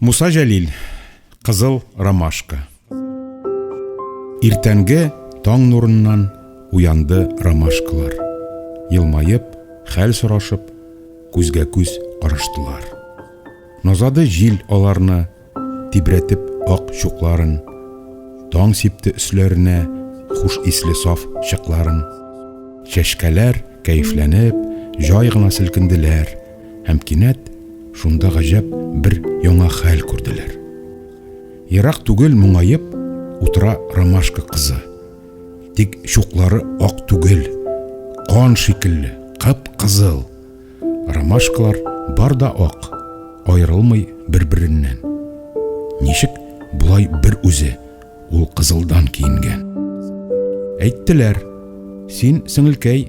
Муса Җәлил, Кызыл ромашка. Иртәнге таң нурыннан уянды ромашкалар. Елмаеп, хәл сорашып, күзгә күз караштылар. Назады җил аларны, тибрәтеп ак чукларын. Таң сипте өсләренә хуш исле саф чыкларын. Чәшкәләр кәефләнеп, җай гына селкенделәр. һәм кинәт шунда гаҗәп бер яңа хәл күрделәр. Ерак түгел моңаеп утыра ромашка кызы. Тик чуклары ак түгел, кан шикелле, кып-кызыл. Ромашкалар бар да ак, аерылмый бер-береннән. Ничек болай бер үзе ул кызылдан киенгән? Әйттеләр, син, сеңелкәй,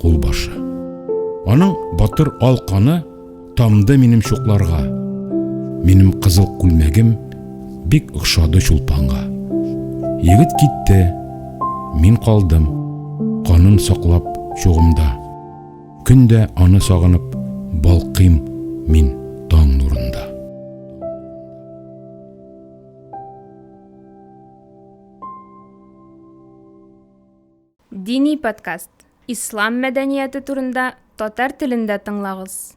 кулбашы. Аның батыр ал каны тамды минем чукларга. Минем кызыл күлмәгем бик охшады чулпанга. Егет китте, мин калдым, канын саклап чугымда. Көн дә аны сагынып балкыйм мин таң нурында. Дини подкаст, Ислам мәдәнияте турында татар телендә тыңлагыз.